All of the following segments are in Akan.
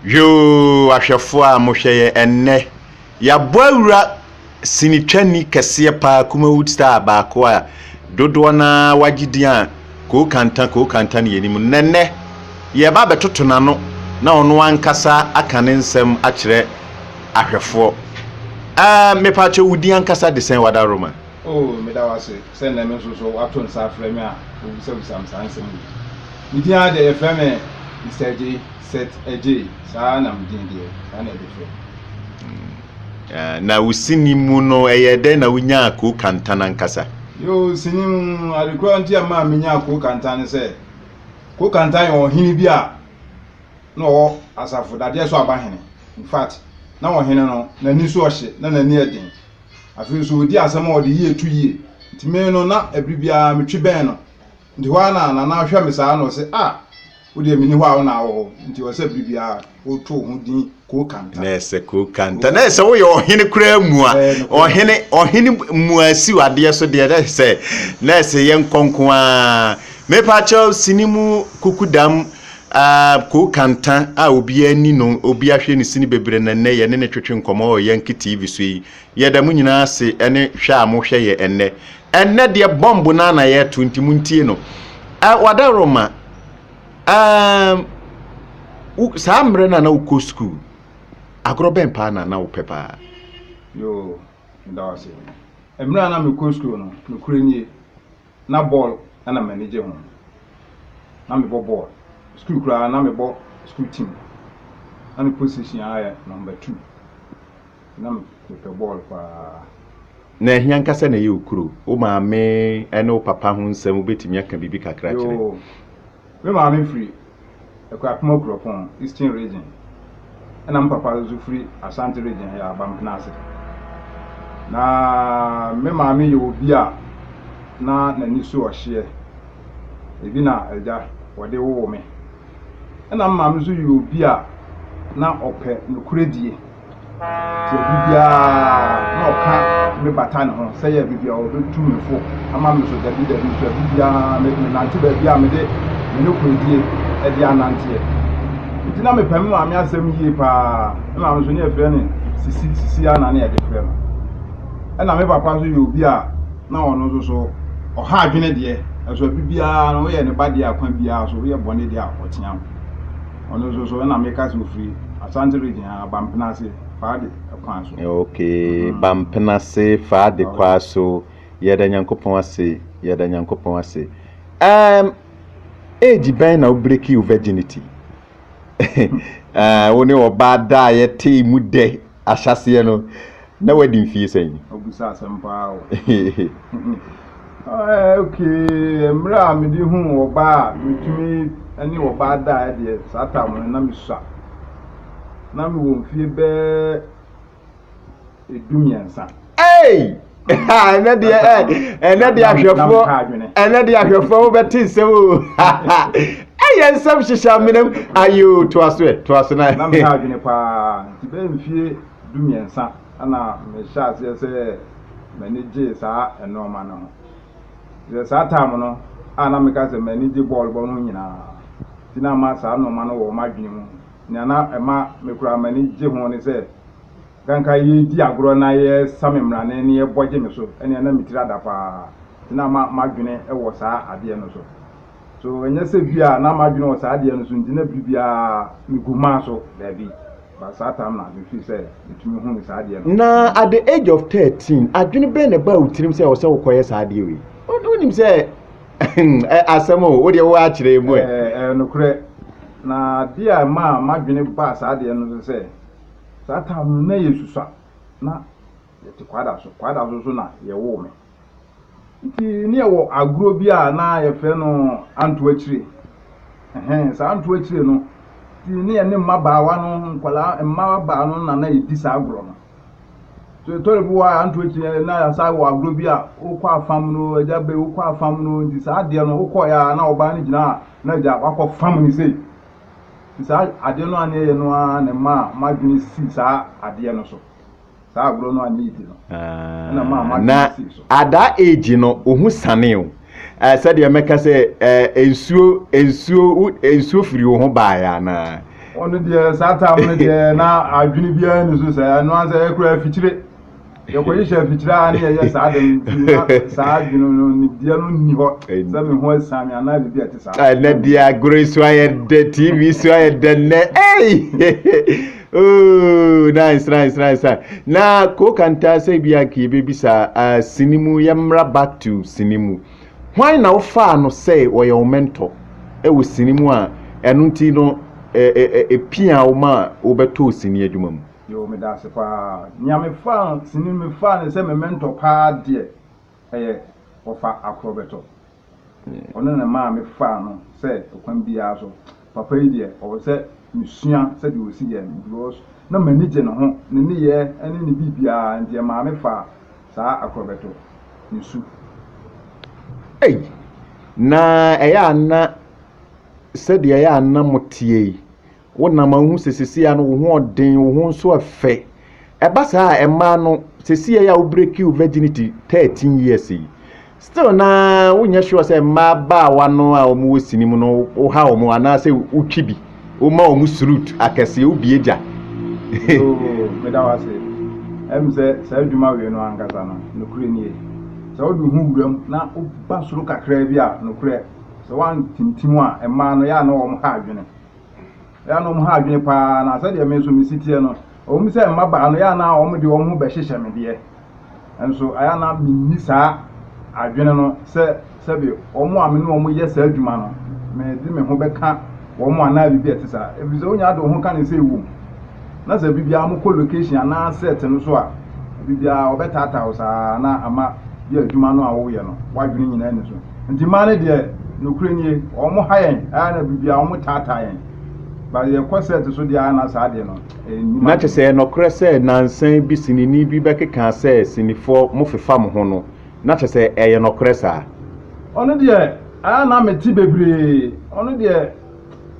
Yoo ahwɛfoɔ a mohwɛ yɛ ɛnnɛ. Yɛabɔ awura sinitwani kɛseɛ paa Kumawood star baako a dodoɔ no ara wagye din a Koo Kanta Koo Kanta ne yɛnim no. Na ɛnnɛ yɛreba abɛtoto n'ano na ɔno ankasa aka ne nsɛm akyerɛ ahwɛfoɔ. Ɛɛm, mepaakyɛw wo din ankasa de sɛn Wada Roman? Oh, meda wo ase. Sɛ nnɛ me nso so wɔato nsa afrɛ me a wobisabisa me saa nsɛm wei. Me din ara deɛ yɛfrɛ me Mister Adjei, Seth Adjei, saa ara na me din deɛ saa na yɛde frɛ me. Mm, na wo sini mu no ɛyɛ dɛn na wonyaa Koo Kantan ankasa? Yoo, sini mu ade koro a nti a maa menyaa Koo Kantan ne sɛ, Koo Kantan yɛ ɔhene bi a na ɔwɔ asafo dadeɛ so aba hene. In fact, na ɔhene no, n'ani so ɔhye, na n'ani yɛ den. Afei nso ɔdi asɛm a ɔde yie to yie. Nti me no na ɛbere biara metwe bɛn no. Nti hɔ ara na Nana ahwɛ me saa na ɔse ah wo deɛ menni hɔ a wo na awɔ hɔ. Nti ɔsɛ bere biara woto wo ho din Koo Kanta. Na ɛsɛ Koo Kanta. Na ɛsɛ woyɛ ɔhene koraa mua. Ɔhene ɔhene mua siw adeɛ so deɛ na ɛsɛ na ɛsɛ yɛnkɔ nko ara. Mepa kyɛw sini mu kukudam Aa Koo Kanta a obiaa nni no, obiaa hwɛ ne sini bebree na nnɛ yɛne no twetwe nkɔmmɔ wɔ Yankee TV so yi. Yɛda mo nyinaa ase ne hwɛ a mo hwɛ yɛ ɛnnɛ. Ɛnnɛ deɛ bɔmb no ara na yɛreto nti mo ntie no. Aa Wadaroma, aa wo saa mmerɛ no a na wo kɔ sukuu, agorɔ bɛn paa na na wo pɛ paa? Yoo, meda wo ase. Mmerɛ a na me kɔ sukuu no, nokorɛ nie, Na bɔɔl na m'ani gye ho. Na mebɔ bɔɔl. Sukuu koraa na mebɔ sukuu team. Na me position ara yɛ number two. Nti na mepɛ bɔɔl paa. Na ɛhe ankasa na ɛyɛ Okuro? Wo maame ne wo papa ho nsɛm, wobɛtumi aka biribi kakra akyerɛ? Yoo, Me maame firi Akuapem Okuropon, Eastern Region, ɛna me papa nso firi Ashanti Region, ɛyɛ Abampena ase. Na me maame yɛ obi a na n'ani so ɔhyeɛ, ebi na agya wɔde woo me. Ɛna me maame nso yɛ obi a na ɔpɛ nokorɛdie. Ɔyɛ biribi ara na ɔka me bata ne ho sɛ yɛ biribi a ɔbɛtu me fo ama me so dabi dabi nso a biribi ara me nante baabi a mede me ne kɔdie ɛde ananteɛ nti na mepɛ me maame asɛm yie paa me maame nso ne yɛfrɛ ne sisi sisi a na ne yɛde frɛ no ɛna me papa nso yɛ obi a na ɔno nso so ɔha adwene deɛ ɛso biribi ara no woyɛ ne ba deɛ akwa biara so woyɛ bɔne deɛ a ɔtea ho Ɔno nso so ɛna meka sɛ ɔfiri Asante region a, Bampenase, Faade kwan so. Ok, Bampenase, Faade kwan so. Yɛda Nyankopɔn ase, yɛda Nyankopɔn ase. Um, age bɛn na wo break your virginity? Wo ne ɔbaa da a yɛtee mu dɛ. ahyɛaseɛ no, na wadi mfeɛ sɛn? Ɔbisa asɛm paa o. Ɛɛ okay, mmerɛ a mede huu ɔbaa a metumi ne ɔbaa daeɛ deɛ, saa time no na mesua. Na mewɔ mfeɛ bɛɛ du mmiɛnsa. Ei! ɛnɛ deɛ ɛnɛ deɛ ahwɛfoɔ ɛnɛ deɛ ahwɛfoɔ wobɛte nsɛm o ɛyɛ nsɛm hyehyɛ amenam ayo toa so ɛ toa so na na meha adwene paa nti bɛyɛ mfie du mmiɛnsa ɛna mehyɛ aseɛ sɛ m'ani gye saa nnoɔma no ho sɛ saa time no a na meka sɛ m'ani gye bɔɔl bɔ no ho nyinaa nti na ama saa nnoɔma no wɔ wɔn adwene mu nea na ɛma mekura m'ani gye ho ne sɛ Bere a anka yɛredi agorɔ na yɛresa me mmrane na yɛbɔ gye me so no, na me tiri ada paa. Nti na m'adwene wɔ saa adeɛ no so. So ɛnyɛ sɛ bi a na m'adwene wɔ saa adeɛ no so nti na bere biara megu maa so? Daabi. But saa tam na me feel sɛ metumi hunu saa adeɛ no. Na at the age of thirteen, adwene bɛn na ɛbaa wo tirim sɛ ɛwɔ sɛ wokɔyɛ saa adeɛ wei? Wonim sɛ asɛm o, wo deɛ woakyerɛ mu ɛ. Ɛyɛ nokorɛ. Na adeɛ a ɛmaa m'adwene baa saa adeɛ no so sɛ, Saa time no na yɛ susua na yɛ te kwada so kwada so nso na yɛ woo me nti ne yɛ wɔ agorɔ bi a na yɛ frɛ no anto akyire ɛhɛn saa anto akyire no nti ne yɛ ne mma baawa no nkwala mma baa no na na yɛ di saa agorɔ no so yɛ tɔre bi wɔ a anto akyire na yɛ saa wɔ agorɔ bi a wokɔ afam no agya bɛ wokɔ afam no nti saa adeɛ no wokɔ yɛ a na ɔbaa no gyina a na agya wakɔ fam ne sei Nti saa adeɛ no anyɛ yɛ no ara na ɛmaa m'adwene sii saa adeɛ no so. Saa agorɔ no anyɛ yie no ɛna ɛmaa m'adwene sii so. Na at that age no wo ho sanee o. Ɛɛ sɛdeɛ mɛka sɛ ɛɛ nsuo nsuo wo nsuo firi wo ho baeɛ anaa? Ɔno deɛ saa time no deɛ na adwene biara ni so sɛ ɛno ara sɛ ɛkura afikyire. Yɛkɔhwehwɛ mfikyire ara na yɛyɛ saa ade no nti, na saa adwene no, nimdeɛ no nni hɔ sɛ me ho asiane me anaa biribi a ɛte saa. Ah, na di agorɔ so ayɛ dɛ, TV so ayɛ dɛ nnɛ. Ei! Oh, nice, nice, nice, nice. Na Kokanta sɛ bi anka yɛbɛbisa ah, sini mu, yɛmmra back to sini mu. Hwan na wofaa no sɛ ɔyɛ wo mentor ɛwɔ sini mu a ɛno nti no ɛ- ɛ- ɛ- ɛpia wo ma wobɛtɔɔ sini adwuma mu? Yoo meda ase paa. Nea mefaa sini no mefaa no sɛ me mentor paa deɛ ɛyɛ Ɔfa Akorɔbɛtɔ. Ɔno na ɛmaa mefaa no sɛ ɔkwan biara so papa yi deɛ ɔwɔ sɛ mesua sɛdeɛ ɔsi yɛ no because na m'ani gye ne ho, ne nneyɛɛ ne ne biribiara nti ɛmaa mefaa saa Akorɔbɛtɔ ne su. Ei! Na ɛyɛ a na sɛdeɛ ɛyɛ a na moteɛ yi, Wonam a wohu sɛ seesei ano wo ho ɔden, wo ho nso ɛfɛ. Ɛba saa a, mmaa no, seesei a wobreaki wo virginity thirteen years yi, still na wonyɛ sure sɛ mmaa baawa no a wɔwɔ sini mu no woha wɔn anaasɛ wotwi bi, woma wɔn srut akɛseɛ, wobie gya. Yoo, meda wo ase. Ɛm sɛ saa adwuma wei no ankasa no, nokorɛ nie. Sɛ wode wo ho wura mu na woba soro kakraa bi a, nokorɛ, sɛ woantintim a, mmaa no, yɛ a na wɔha adwene. Ɛyanom ha adwene paa na sɛdeɛ me nso me si teɛ no, ɛwom sɛ mmabaa no yɛ na wɔn de wɔn ho bɛhyehyɛ me deɛ, nso ɛyɛ na menni saa adwene no sɛ sɛbe wɔn a me ne wɔn yɛ saa adwuma no, mede me ho bɛka wɔn anaa biribi a ɛte saa. Ɛfiri sɛ wonya de wo ho ka ne sɛ ɛwom. Na sɛ biribiara mokɔ location anaa set no so a, biribiara wɔbɛtaataa wo saa na ama yɛ adwuma no a woyɛ no w'adwene nyinaa nni so. Nti mmaa no deɛ nokorɛ nie wɔn ha yɛn ɛyɛ na biribi a wɔn taataa yɛn ba yɛ kɔ sɛt so deɛ ana saa deɛ no ɛnyima. Na kyɛ sɛ ɛnɔkorɛ sɛ nansan bi sinini bi bɛkekaa sɛ sinifoɔ mo fefa mo ho no na kyɛ sɛ ɛyɛ nɔkorɛ saa. Ɔno deɛ ɛyɛ na me te bebree ɔno deɛ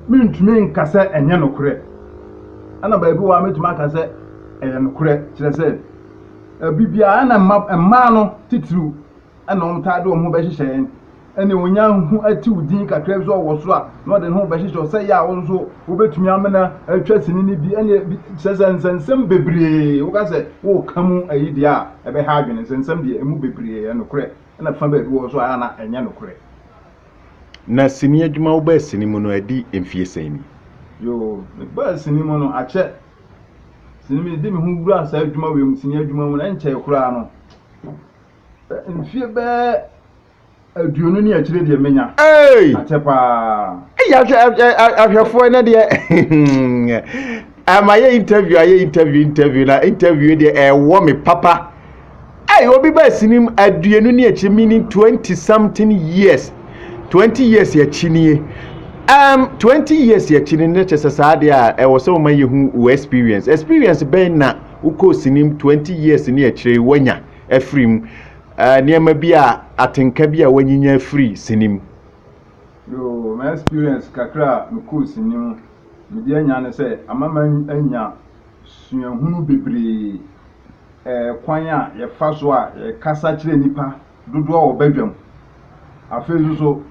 me ntumi nka sɛ ɛnyɛ nokorɛ ɛna baabi wɔ a mɛtumi aka sɛ ɛyɛ nokorɛ kyerɛ sɛ ɛbi biara ɛna mmaa no titiriw na wɔtaa de wɔn ho bɛhyehyɛ yɛn. Ɛnna onya ho atew din kakra bi sɛ ɔwɔ soro a, na ɔde ne ho bɛhyehyɛ hɔ sɛ ɛyɛ a wo nso wobɛtumi amena atwa sini no bi. Ɛnna bi kyerɛ sɛ nsɛnsɛm bebree, woka sɛ woreka mu ayi deɛ a, ɛbɛha adwene. Nsɛnsɛm deɛ, emu bebree yɛ nokorɛ, ɛnna fa baabi wɔ hɔ nso a, ɛyɛ na ɛnyɛ nokorɛ. Na sini adwuma, wobaa sini mu no, adi mfeɛ sɛn ni? Yoo, mebaa sini mu no, akyɛ. Sini, mede me ho wuraa saa adwuma wei mu, sini adwuma mu no, ɛnkyɛe koraa no, Mfie bɛyɛ aduonu ne akyire deɛ menya. Hey! Akyɛ paa. Hey, ahwɛfoɔ ɛnɛ deɛ ama yɛ interview ayɛ interview interview na interview deɛ ɛwɔ me papa. Hey, obi baa sinim aduonu ne akyire meaning twenty something years. Twenty years akyi nie. Um, twenty years akyi ne ne kyɛ sɛ saa deɛ a ɛwɔ sɛ wɔma yɛhu wo experience. Experience bɛn na wokɔɔ sinim twenty years ne akyire wanya? afiri mu, nneɛma bi a atenka bi a wanyinya afiri sini mu. Yoo ma experience kakra a me kɔɔ sini mu me de anya ne sɛ ama ma anya suahunu bebree ɛɛ kwan a yɛfa so a yɛkasa kyerɛ nipa dodoɔ a wɔba dwam afei nso so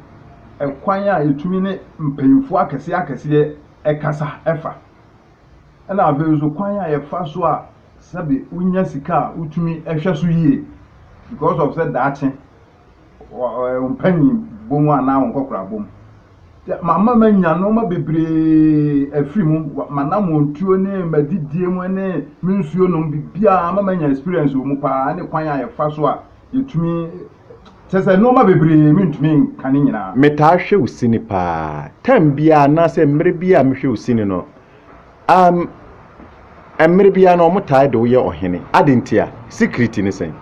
ɛkwan a yɛtumi ne mpanyinfoɔ akɛseɛ akɛseɛ ɛkasa ɛfa. ɛna afei nso kwan a yɛfa so a sɛbi wonya sika a wotumi hwɛ so yie because of sɛ daakye mpanyin bom anaa wɔn nkɔkora bom. Mama manya nneɛma bebree afiri mu, m'anammɔntuo ne m'adidie mu ne me nsuo nom biribiara ama manya experience wɔ mu paa ne kwan a yɛfa so a yɛtumi Kyerɛ sɛ nnoɔma bebree mentumi nka ne nyinaa. Metaa hwɛ wo sini paa. Time biara anaasɛ mmerɛ biara a mehwɛ wo sini no, um, mmerɛ biara no wɔtaa de wo yɛ ɔhene. Ade ntia? Secret ne sɛn?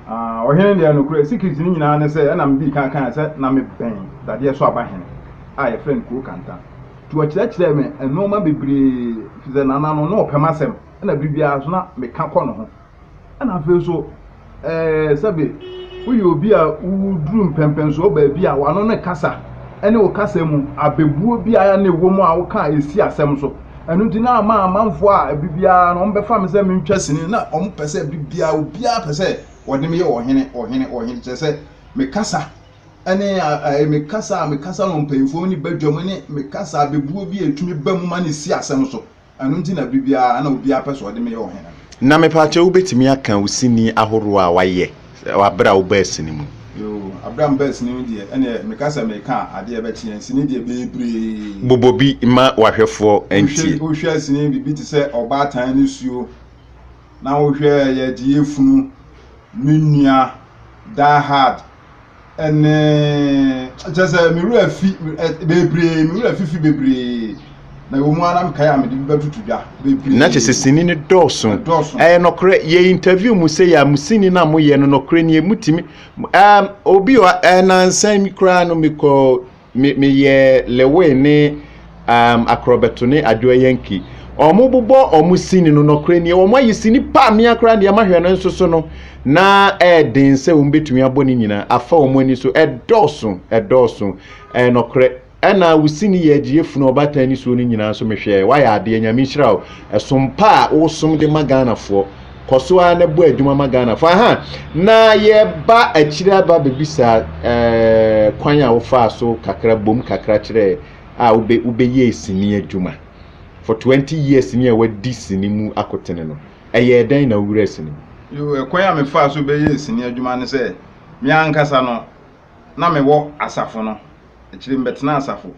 Ah, ɔhene deɛ nokorɛ, secret ne nyinaa ne sɛ, ɛna medii kan kaeɛ sɛ na mebɛn dadeɛ so aba hene a yɛfrɛ no Kuro Kanta. Nti ɔkyerɛkyerɛɛ me nnoɔma bebree, firi sɛ Nana no, na ɔpɛ m'asɛm, ɛna berɛ biara nso na meka kɔ ne ho. Ɛna afei nso, ɛɛ sɛbe woyɛ obi a woduru mpɛmpɛnsoɔ baabi a w'ano no kasa ne wo kasa mu abɛbuo biara na ɛwɔ mu a woka a ɛsi asɛm so. Ɛno nti na ama amanfoɔ a ɛbi biara no wɔbɛfa me sɛ mentwa sini na wɔn pɛ sɛ ɛbi biara obiara pɛ sɛ wɔde me yɛ ɔhene ɔhene ɔhene kyerɛ sɛ me kasa ɛne ɛɛ me kasa a me kasa no mpanyinfoɔ ne badwam ne me kasa abɛbuo bi a ɛtumi ba mu ma no si asɛm so. Ɛno nti na bere biara na obiara pɛ sɛ ɔde me yɛ ɔhene. Na mepaakyɛw wubetumi aka wo sini ahorow a woayɛ wɔ bere a wobaa sini mu no? Yoo, bere a mebaa sini mu deɛ, ɛnneɛ meka sɛ mereka adeɛ bɛkyeɛ. Sini deɛ bebree. Bobɔ bi ma w'ahwɛfoɔ ntie. Wohwɛ sini biribi te sɛ Ɔbaatan ne Suo, na wohwɛ Yɛagye Yɛafunu, Me Nua, Die Hard. ɛne kyɛ sɛ me werɛ afi bebree me werɛ afifi bebree na ɛwɔ mu ara mekae a mede bi bɛtoto dwa bebree na kyɛ sɛ sini no dɔɔso ɛyɛ nɔkorɛ yɛ interview mu sɛ yɛ mo sini no a moyɛ no nɔkorɛ nie motumi um, obi ɔ ɛnansan mi koraa no mekɔ me meyɛ lewe ne um, akorɔbɛto ne adwoa yanki ɔmo bobɔ ɔmo sini no nɔkorɛ nie ɔmo ayɛ sini pa mmea koraa deɛ mahwɛ no nso so no na ɛɛden sɛ wɔn bɛtumi abɔ ne nyinaa afa wɔn ani so ɛdɔɔso ɛdɔɔso ɛɛ nɔkorɛ ɛna wo sini yɛ agyeɛ funu ɔbaatan ne suo no nyinaa nso mehwɛ wayɛ adeɛ nyame nhyira wo ɛsom pa a wosom de ma ghanafoɔ kɔ so ara na bɔ adwuma ma ghanafoɔ aha na yɛba akyire aba bɛbisa ɛɛ kwan a wofaa so kakra bom kakra kyerɛ a wobɛ wobɛyɛ sini adwuma for 20 years ni a wadi sini mu akotene no ɛyɛ dɛn na wowura sini mu yo ɛkwan a mefaa so bɛyɛ sini adwuma ne sɛ me ankasa no na mewɔ asafo no akyire mbɛtena asafo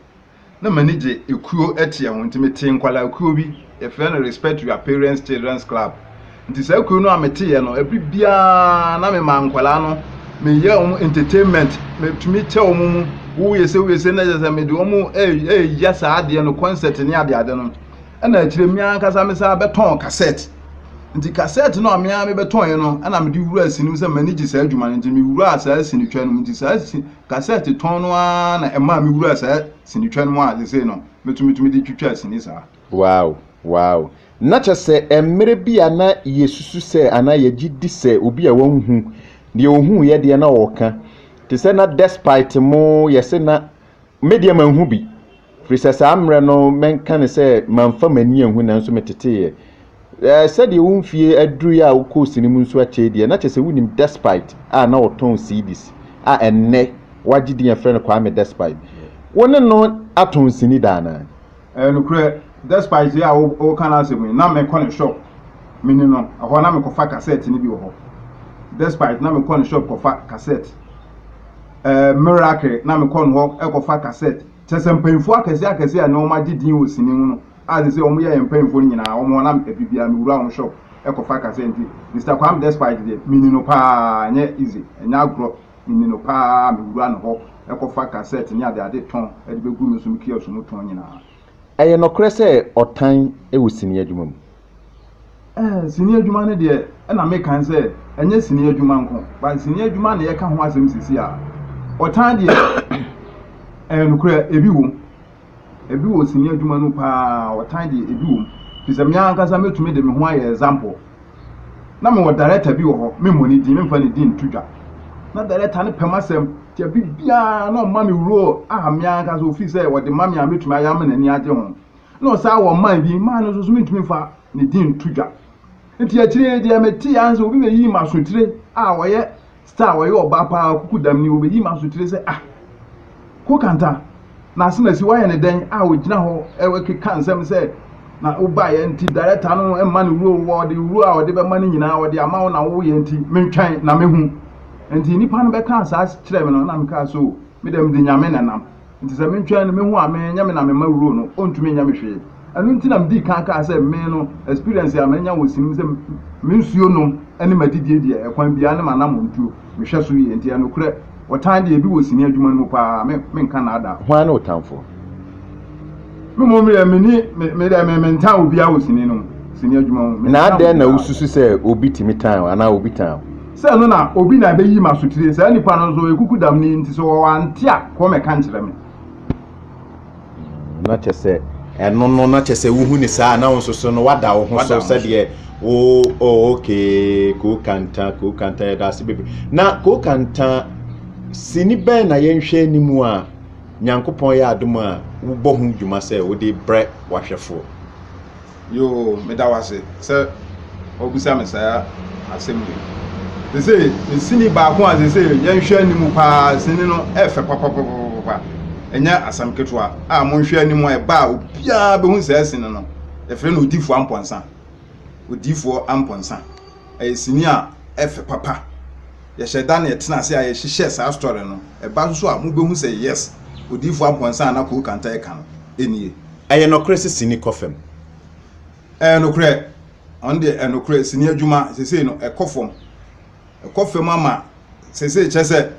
na m'ani gye ekuo ɛteɛ ho nti metee nkwadaa kuo bi yɛfrɛ no respect your parents children's club nti saa kuo no a meteeɛ no ɛbiri biara na mema nkwadaa no meyɛ wɔn entertainment metumi kyɛ wɔn mu woyɛ sɛ woyɛ sɛ na kyɛ sɛ mede wɔn ɛyɛ saa adeɛ no concert ne ade ade no ɛna akyire mmea ankasa me saa bɛtɔn cassette nti kasɛt no a mea mebɛtɔn yi no ɛna mede wura sini mu sɛ m'ani gye saa adwuma no nti mewura saa sini twa no mu nti saa Kasɛɛte tɔn no ara na ɛmaa me wuraa saa sinitwa no mu a sesei no me nso metumi de twitwa sini saa. Wow! Wow! Na kyerɛ sɛ mmerɛ bi a na yɛsusu sɛ anaa yɛgye di sɛ obi a wanhu, deɛ ɔhuuiɛ deɛ na ɔreka. Te sɛ na despite mo yɛse na, me deɛ manhu bi. Firi sɛ saa mmerɛ no mɛnka no sɛ mamfa m'ani anhu nanso meteteeɛ. Ɛɛ, sɛdeɛ wo mfeɛ aduruiɛ a wokɔɔ sini mu nso akyɛ yi deɛ, na kyerɛ sɛ wonim Despite a na ɔtɔn CDs a ɛnnɛ wagye din a yɛfrɛ no Kwame Despite. Wo ne no atɔn sini da anaa? Ɛyɛ nokorɛ, Despite yi a woreka n'asɛm yi, na mekɔ ne shop me ne no, ɛhɔ na mekɔfa cassette no bi wɔ hɔ. Despite na mekɔ ne shop kɔfa cassette. Ɛɛ, Miracle na mekɔ ne hɔ kɔfa cassette. Kyerɛ sɛ, mpanyimfo akɛse akɛse a na wɔagye din wɔ sini ho no a seesei wɔyɛ yɛn mpanyimfo no nyinaa, wɔn hɔ na biribiara miwura wɔn shop kɔfa ka sɛ, Enti Mister Kwame Despite deɛ, minni no paa, ɛnyɛ easy, ɛnyɛ agorɔ, minni no paa, miwura ne hɔ kɔfa cassette ne adeade tɔn de begu me so me kiosk mu tɔn nyinaa. Ɛyɛ nokorɛ sɛ ɔtan wɔ sini adwuma mu? Ɛɛ, sini adwuma no deɛ, ɛna meka sɛ ɛnyɛ sini adwuma nko, but sini adwuma na yɛka ho asɛm sisi a. Ɔtan deɛ, ɛɛ nokorɛ, ebi wom. Ebi wɔ sini adwuma no paa, ɔtan deɛ ebi wom. Fi sɛ me ankasa mɛtumi de me ho ayɛ example. Na mewɔ director bi wɔ hɔ, memmɔ ne din, memfa ne din nto dwa. Na director no pɛ m'asɛm, deɛ biribiara na ɔma me role a me ankasa ofii sɛ ɔde ma me a mɛtumi ayɛ ama n'ani agye ho. na ɔsan wɔ mmaa bi, mmaa no nso so mentumi mfa ne din nto dwa. Nti akyire yi deɛ metee ara sɛ obi bɛyii m'asotire a ɔyɛ star, ɔyɛ ɔbaa paa, ɔkuku dam ni, ɔbɛyii m'asotire sɛ ah, Kokanta, n'asenasi wayɛ ne dɛn a ɔgyina hɔ ɛkeka nsɛm sɛ na wobaeɛ nti director no mma ne wuro wɔ ɔde wuro a ɔde bɛma no nyinaa ɔde ama wo na woyɛ nti mentwɛn na mehu. Nti nnipa no bɛkaa saa kyerɛɛ me no na mekaa sɛ o, me deɛ mede Nyame na ɛnam. Nti sɛ mentwɛn no, mehu a me, nyɛ me na mema wuro no, ɔntumi nyɛ me hwee. Ɛno nti na medii kan kaa sɛ me no, experience a manya wɔ Sim sɛ me nsuo nom ne m'adidie deɛ, ɛkwan biara ne m'anammɔntuo, mehwɛ so yie. Nti ɛnokorɛ, ɔtan deɛ, ebi wɔ sini adwuma no mu pa ara, me, menka nnaadaa. Hwan ne wo tamfoɔ? Me mmom deɛ, menni, me, me deɛ, me, mentan obiara wɔ sini nom, sini adwuma mu. Me, Na mentan adɛn na obiara. wosusu sɛ obi tumi tan wo anaa obi tan wo? sɛ ɛno na obi na ɛbɛyi ma asotire saa nipa no nso ekuku dam ni nti sɛ wɔwɔ ante a kɔn mɛka nkyerɛ me. na kyɛ sɛ ɛno no na kyɛ sɛ wohu ne saa na nso so no wada wo ho so sɛdeɛ wo oh, okay kookanta kookanta yɛda ase bebe na kookanta sini bɛn na yɛnhwɛ anim a nyankopɔn yɛ adom a wobɔ ho dwuma sɛ wode brɛ wahwɛfoɔ Yoo, meda wo ase sɛ wabisa me saa asɛm wei. Sese, me sini baako a sese yɛnhwɛ anim paa, sini no ɛfɛ papapapapa. Ɛnyɛ asɛm ketewa a monhwɛ anim a ɛba a obiara bɛhu saa sini no. Yɛfrɛ no odiifoɔ ampɔnsa. Odiifoɔ ampɔnsa. Ɛyɛ sini a ɛfɛ papa. Yɛhyɛ da na yɛtena ase a yɛhyehyɛ saa story no. Ɛba nso a, mubehu sɛ yes, Odiyifo Ampon Nsa a na Koo Kanta reka no, enie. Ɛyɛ nɔkorɛ sɛ sini kɔ fam? Ɛyɛ nokorɛ. Ɔno deɛ, ɛyɛ nokorɛ. Sini adwuma seesei no, ɛkɔ fam. Ɛkɔ fam ama seesei kyerɛ sɛ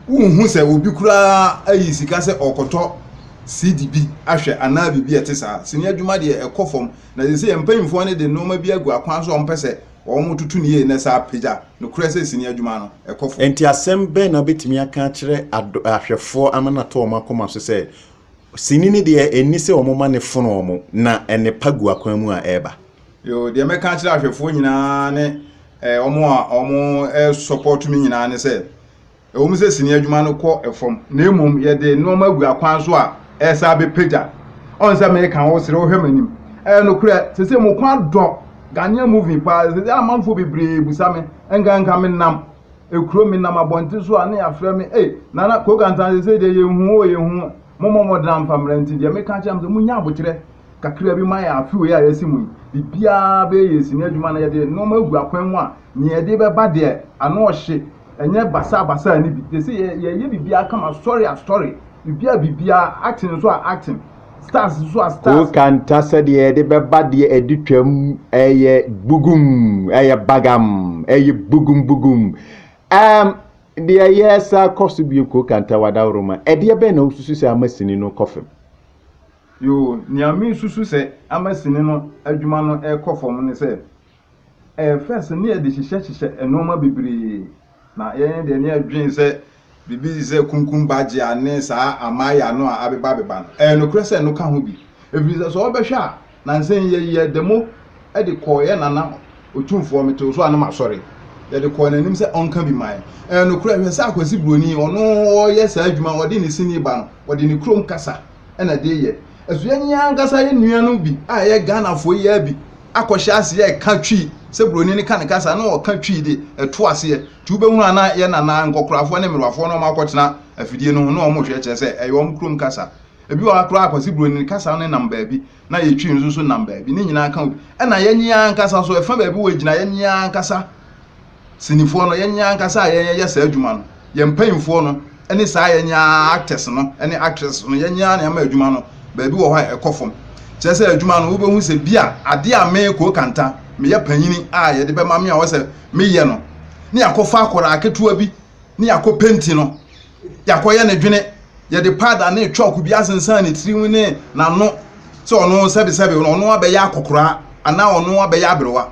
wonhu sɛ obi koraa ayi sika sɛ ɔrekɔtɔ CD bi ahwɛ anaa biribi a ɛte saa. Sini adwuma deɛ, ɛkɔ fam. Na seesei mpanyimfoɔ no de nneɛma bi agu akwan so a wɔpɛ sɛ Wɔtoto no yie na ɛsan apagya nokorɛ sɛ sini adwuma no kɔ fam. Enti asɛm bɛn na wobɛtumi aka akyerɛ ahwɛfoɔ ama no atɔ wɔn akoma so sɛ sini no deɛ ɛnni sɛ wɔma no fono wɔn na nnepa gu akwan mu a ɛreba? Yoo, deɛ mɛka akyerɛ ahwɛfoɔ nyinaa ne wɔn a wɔsɔpɔɔto me nyinaa ne sɛ, Ɛwom sɛ sini adwuma no kɔ fam, na mmom yɛde nneɛma agu akwan so a ɛresan abɛpagya. Ɔn sɛ meka wo srɛ wo hwɛ m'anim. Ɛyɛ nokorɛ, seesei mo kɔn adɔ Ghanaian movie paa. Seesei amanfoɔ bebree bisa me, nka nka menam kuro, menam abɔnten so a, na yɛafrɛ me, ei, Nana Kokantan seesei deɛ yɛnhu wo o, yɛnhu wo. Mommɔ mmɔden amfa mmra nti deɛ meka kyerɛ mo sɛ monnya aboterɛ kakra bi ma yɛn afe wei a yɛasi mu yi. Biribiara bɛyɛ yɛ sini adwuma na yɛde nneɛma agu akwan mu a, nea ɛde bɛba deɛ, ano ɔhye. Ɛnyɛ basabasa no bi. Te sɛ yɛ yɛyɛ biribiara kama sɔre a sɔre, biribiara a biribiara, action nso a action, stars nso a stars. Wo kanta sɛdeɛ yɛde bɛba deɛ ɛde twam ɛyɛ bugum, ɛyɛ bagam, ɛyɛ bugum bugum. Um, deɛ yɛ sa kɔ so bio ko kanta wadaworoma. Ɛdeɛ bɛn na wosusu sɛ ama sini no kɔ fam? Yoo, nea mesusu sɛ ama sini no adwuma no ɛkɔ fam ne sɛ Ɛyɛ fɛ sɛ ne ɛde hyehyɛ hyehyɛ nnoɔma bebree na yɛn deɛ ne yɛdwen sɛ biribi te sɛ kunkum bagyea ne saa amaaya no a abeba abeba no ɛyɛ nokorɛ sɛ ɛno ka ho bi ɛfiri sɛ sɛ wobɛhwɛ a nansa yi yɛ yɛ demo de kɔɔ yɛ nana otumfoɔ mete wo so a ne masɔre yɛde kɔɔ n'anim sɛ ɔnka bi man ɛyɛ nokorɛ hwɛ sɛ akwasi buroni ɔno ɔyɛ saa adwuma ɔde ne sini ba no ɔde ne kurom kasa na de yɛ. Ɛso yɛn ankasa yɛn nuanom bi a ɛyɛ Ghanafoɔ yi ara bi akɔhyɛ aseɛ ɛka Twi sɛ buroni no ka ne kasa na ɔka Twi de ɛto aseɛ nti wobɛhunu a na yɛn nana nkɔkorafoɔ ne mmerewafoɔ na wɔakɔtena afidie no ho na wɔhwɛ kyerɛ sɛ ɛyɛ wɔn kurom kasa ebi wɔ ha koraa kwasi buroni no kasa no nam baabi na yɛ Twi nso so nam baabi ne nyinaa ka obi ɛna yɛn ankasa so ɛfa baabi wɔ gyina yɛn ankasa Sinifoɔ no, yɛn ankasa a yɛyɛ saa adwuma no, yɛn mpanyimfoɔ no ne saa yɛn actors no ne actresses no, yɛn ara na yɛma adwuma no baabi wɔ hɔ a ɛkɔ fam. Kyerɛ sɛ adwuma no, wobɛhu sɛ bi a adeɛ a me, Koo Kanta, meyɛ panyini a yɛde bɛma me a wɔsɛ meyɛ no, ne yɛakɔfa akwadaa ketewa bi ne yɛakɔ penti no, Yɛakɔyɛ ne dwene, yɛde powder ne chalk bi asensan ne tirim ne n'ano sɛ ɔno sɛbesɛbe no ɔno abɛyɛ akɔkoraa anaa ɔno abɛyɛ aberewa.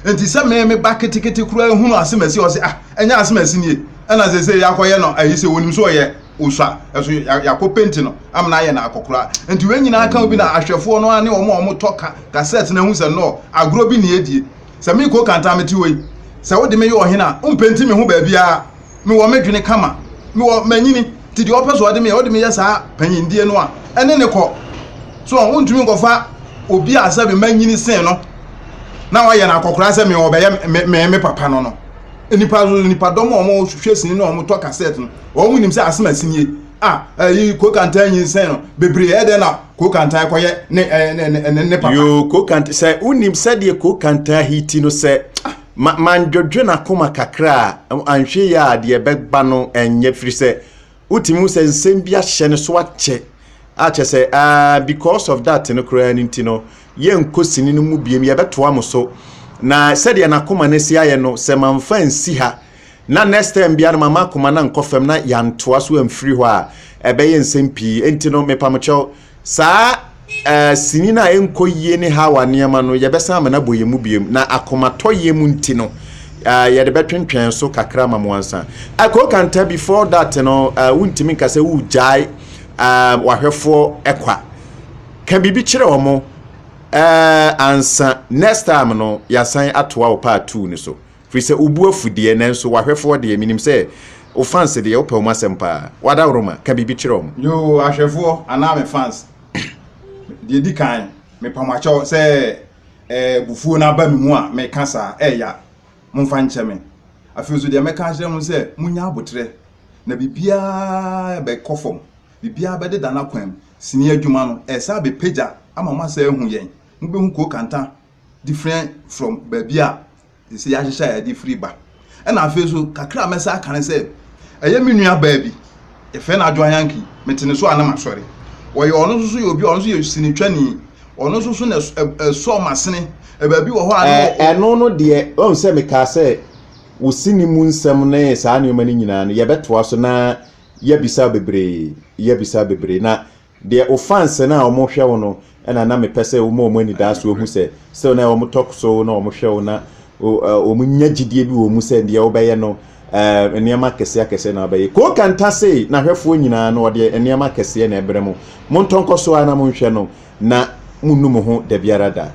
Enti sɛ me me ba ketekete koraa hunu asemasi a ɔse ah ɛnyɛ asemasi nie ɛna sɛ sɛ yɛakɔyɛ no ayi sɛ onim sɛ ɔyɛ osua ɛso yɛakɔ penti no amena ayɛ no akɔkoraa. Enti wei nyinaa ka bi na ahwɛfoɔ no ara ne wɔn a wɔtɔ ka kasɛt no ahu sɛ no agorɔ bi ne yɛdie. Sɛ mekɔ Kanta mete hɔ yi sɛ wode me yɛ ɔhene a wompenti me ho baabiara. mewɔ me dwene kama, mewɔ manyini, nti deɛ ɔpɛ so ɔde meyɛ, ɔde meyɛ saa panyindie no a, ɛne ne kɔ. So wɔn ntumi nkɔfa obi a sɛ manyini sen no na wayɛ no akɔkora sɛ me ɔbɛyɛ me me me papa no no. Nipa nipa dɔm a wɔn hwehwɛ sini na wɔn tɔ kasɛt no, wɔn nim sɛ asem asinie a ɛyi kokantan nyi nsɛn no bebree ɛdɛ na kokantan kɔyɛ ne ne ne ne papa. Yoo kokantan sɛ wonim sɛdeɛ kokantan hiti no sɛ. ma mandwodwo n'akoma kakra a, anhwɛ yi a deɛ ɛbɛba no ɛnyɛ firi sɛ wotumi hu sɛ nsɛm bi ahyɛ no so akyɛ akyɛ sɛ ah because of that no koraa no nti no yɛnkɔ sini no mu biem yɛbɛtoa mo so na sɛdeɛ n'akoma no si ayɛ no sɛ mamfa nsi ha na next time biara no mama akoma no ankɔ fam na yɛantoa so amfiri hɔ a ɛbɛyɛ nsɛm pii nti no mepamokyɛw Saa eh, sini no a ɛnkɔ yie ne Hawa nneɛma no, yɛbɛsan ama no abɔ yɛn mu biom, na akomatɔyam nti no, eh, yɛde bɛtwentwɛn so kakra ma mo ansa. Eh, Koo Kanta, before that no, eh, wontumi nka sɛ wogyae eh, wahwɛfoɔ ɛkwa. Ka biribi kyerɛ wɔn eh, ansa. Next time no, yɛasan atoa wo part two no so. Firi sɛ wo bo afu deɛ, nanso w'ahwɛfoɔ deɛ, menim sɛ wo fans deɛ, wopɛ wɔn asɛm pa ara. W'adaworoma, ka biribi kyerɛ wɔn. Yoo, ahwɛfoɔ anaa me fans, deɛ ɛdi kan, mepa mo akyɛw sɛ abufuo no aba me mu a meka saa a, ɛya, momfa nkyɛ me. Afei nso, deɛ mɛka akyerɛ mo ne sɛ, monnya aboterɛ, na biribiara bɛkɔ fam, biribiara bɛdeda n'akwan mu. Sini adwuma no, ɛresan abɛpagya ama moasan ahu yɛn. Mobɛhu Kookantan different from baabi a ɛsɛ yɛahyehyɛ a yɛde firi ba ɛna afei so kakra a mɛsa aka ne sɛ ɛyɛ me nua baa bi yɛfrɛ no adwoa yanki mete ne so a na masɔre wɔyɛ ɔno nso so yɛ obi a ɔno nso yɛ sinitwani ɔno nso so na ɛsɔ masene baabi wɔ hɔ a ɛno no deɛ ɔhu sɛ mekaa sɛ wo sini mu nsɛm ne saa nneɛma no nyinaa no yɛbɛtoa so na yɛbisa bebree yɛbisa bebree na Deɛ wo fans no a wɔhwɛ wo no na na mepɛ sɛ woma wɔn anidasoɔ wɔhu sɛ still na wɔn talk so na wɔn hwɛ wo na wɔn nya gyidie bi wɔ wɔn mu sɛ deɛ wobɛyɛ no ɛɛ nneɛma akɛseɛ akɛseɛ na wabɛyɛ Koo Kanta sei n'ahwɛfoɔ nyinaa no ɔdeɛ nneɛma akɛseɛ na ɛbrɛ mo mo ntɔ nkɔ so ara na monhwɛ no na monnu mo ho dabiara da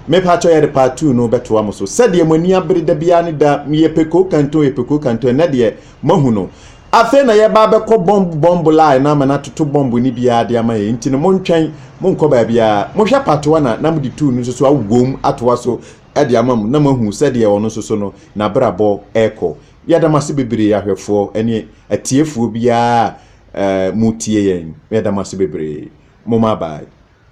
mepakyɛ yɛde part two no bɛtoa mo so sɛdeɛ mo ani abere dabiara ne da meyɛ pɛ Koo Kanta o yɛ pɛ Koo Kanta ɛnɛ deɛ moahu no Afei na yɛba abɛkɔ bɔmb bɔmb line na ama no atoto bɔmb no biara de ama yɛn. Nti no montwɛn, monkɔ baabiara. Mohwɛ patoa na na mode tuu no nso so awowom atoa so de ama mo na moahu sɛdeɛ ɔno nso so no n'abrabɔ rekɔ. Yɛda mo ase bebree ahwɛfoɔ ne atiefoɔ biara a motie yɛn. Yɛda mo ase bebree. Moma bye.